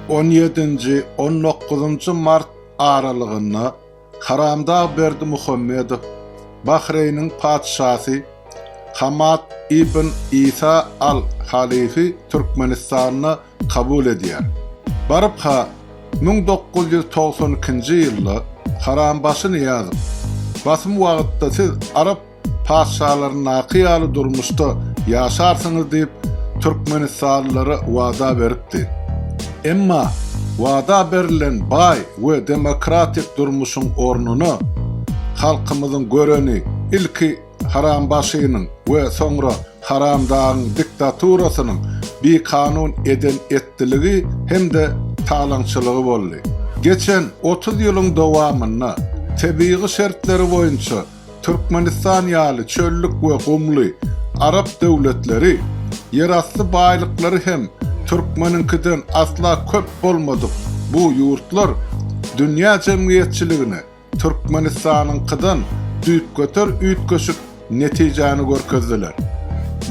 On ýedinji, on dokuzynjy mart aralygynda Haramdag Berdimuhamedow Bahreýniň Patyşasy Hamad ibn Isa Al Halifi Türkmenistanda kabul edýär. Baryp-ha, müň dokuz ýüz togsan ikinji ýylda Harambaşy Nyýazow, Basym wagtda siz arap patyşalaryndaky ýaly durmuşda ýaşarsyňyz diýip, türkmenistanlylara wada beripdi. Emma wada berlen baý we demokratik durmuşyň ornuna, halkymyzyň göreni ilki Harambaşynyň we soňra Haramdagyň diktaturasynyň bikanun eden-etdiligi hem-de talaňçylygy boldy. Geçen otuz ýylyň dowamynda tebigy şertleri boýunça Türkmenistan ýaly çöllük we gumly arap döwletleri ýerasty baýlyklary hem türkmeniňkiden asla köp bolmadyk bu ýurtlar dünýä jemgyýetçiligine Türkmenistanyňkydan düýpgöter üýtgeşik netijäni görkezdiler.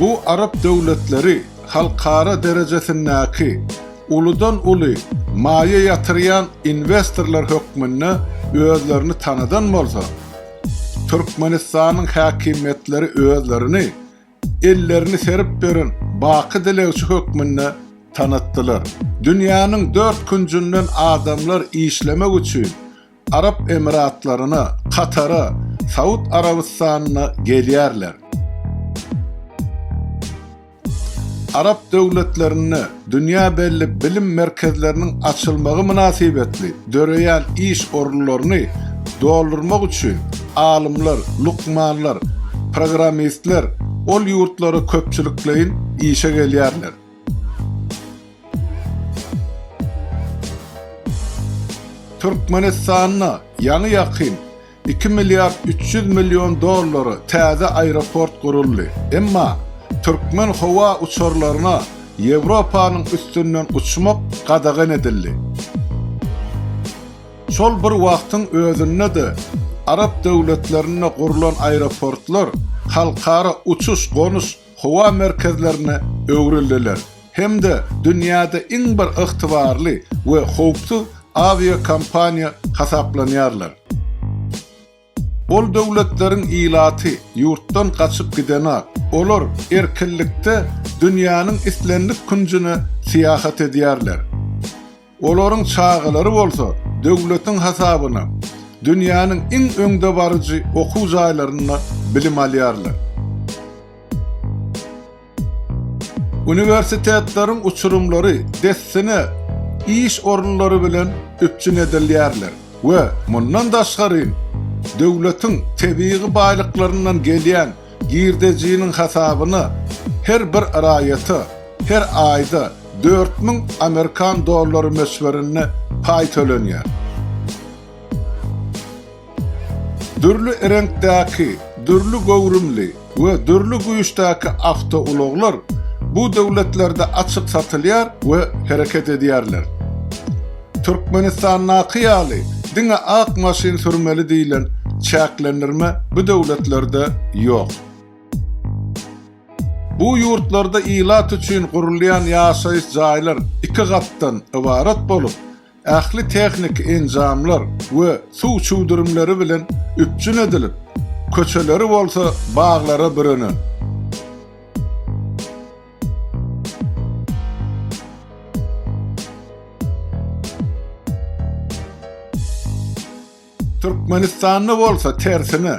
Bu arap döwletleri halkara derejesindäki Uludan-uly maýa ýatyrýan inwestorlar hökmünde özlerini tanadan bolsa, Türkmenistanyň häkimiýetleri özlerini ellerini serip beren baky dilegçi hökmünde tanatdylar. Dünýäniň dört künjünden adamlar işlemek üçin Arap Emiratlaryna, Katara, Saud Arabystanyna gelýärler. Arap döwletlerinde dünýä belli bilim merkezleriniň açylmagy mynasybetli döreýän iş orunlaryny doldurmak üçin alymlar, lukmanlar, programmistler ol ýurtlara köpçülikleýin işe gelýärler. Türkmenistanda ýaňy-ýakyn iki milliard üç ýüz million dollara täze aeroport guruldy. Emma türkmen howa uçarlaryna Ýewropanyň üstünden uçmak gadagan edildi. Şol bir wagtyň özünde-de arap döwletlerinde gurlan aeroportlar halkara uçuş-gonuş howa merkezlerine öwrüldiler hem-de dünýäde iň bir ygtybarly we howpsuz awiakompaniýa hasaplanýarlar. Ol döwletleriň ilaty ýurtdan gaçyp gidenak, olar erkinlikde dünýäniň islendik künjüne syýahat edýärler. Olaryň çagalary bolsa döwletiň hasabyna dünýäniň iň öňdebaryjy okuw jaýlarynda bilim alýarlar. Uniwersitetleriň uçurymlary dessine iş orunlary bilen üpjün edilýärler we mundan daşgaryn döwletiň tebigy baýlyklaryndan gelýän Girdejiniň hasabyna her bir raýata her aýda dört müň amerikan dollary möçberinde paý tölenýär. Dürli reňkdäki, dürli göwrümli we dürli güýçdäki awtoulaglar bu döwletlerde açyk satylýar we hereket edýärler. Türkmenistandaky ýaly diňe ak maşyn sürmeli diýlen çäklendirme bu döwletlerde ýok. Bu ýurtlarda ilat üçin gurulýan ýaşaýyş jaýlar iki gatdan ybarat bolup, ähli tehniki enjamlar we suw çüwdürimleri bilen üpjün edilip, köçeleri bolsa baglara bürenen. Türkmenistanda bolsa tersine,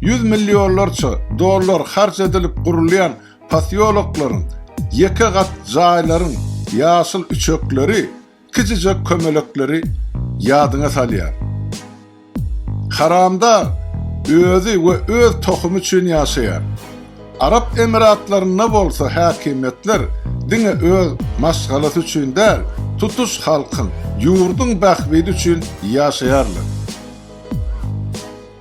ýüz millionlarça dollar harç edilip gurulýan posýoloklaryň, ýeke gat jaýlaryň ýaşyl üçekleri Kiçijek kömelekleri ýadyňa salýar. Haramdar özi we öz tohumy üçin ýaşaýar. Arap Emiratlarynda bolsa häkimiýetler diňe öz maşgalasy üçin däl, tutuş halkyň, ýurduň bähbidi üçin ýaşaýarlar.